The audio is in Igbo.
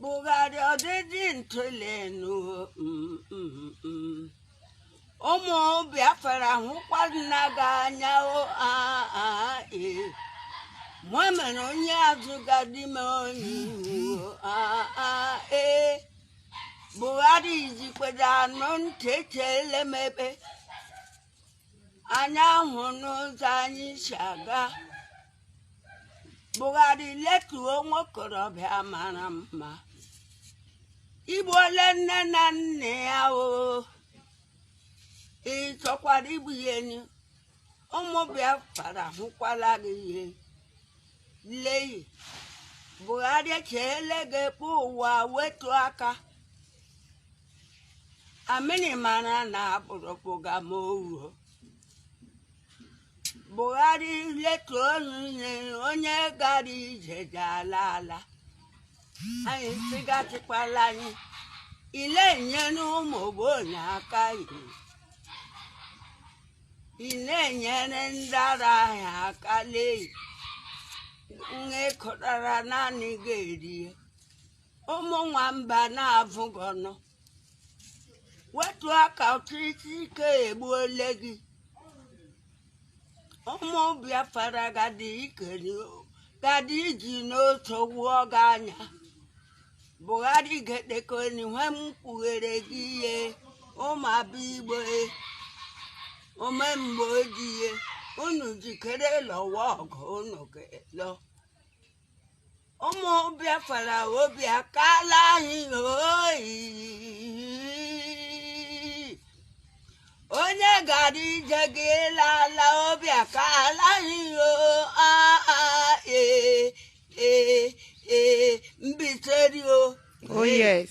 buhari ọdịdị ntụlenu ụmụ biafra hụkwana gị anya o aa ee mụ mere onye azụ ga-adị m onye ihu o aa ee buhari jikwere anụ ntị echeele m ebe anyị ahụna ụzọ anyị si aga buhari letuo nwokorobịa mara mma i gbuole nna na nne ya o ị chọkwara igbu ya enyi ụmụ biafra hụkwala gị ihe leyi buhari cheele ga-ekpe ụwa wetu aka amịrị mara na akpụrụkpụga m ohu buhari letuonụ ihe onye gara ije ji ala ala anyị sị gị achịkwala anyị ị na-enyere ụmụ ogbenye aka ị na-enyere ndị ara ahịa aka lee nke ị kọtara naanị gị erie ụmụ nwamba na-avụ gị ọnụ wetu aka ọchịchị ike egbuole gị ụmụ biafra ga-adị ikeri gadị iji n'otu gwụọ gị anya buhari gee ntị ka onye nwe m kpughere gị ihe ụmụ aba igbo ome mgbe o ji ee unu jikere lụwa ọgụ unu ga-elọ ụmụ biafra obi akala anyị o onye gara ije ji ala ala obi akala anyị o aa ee ee ee mbiteri o Oh yes.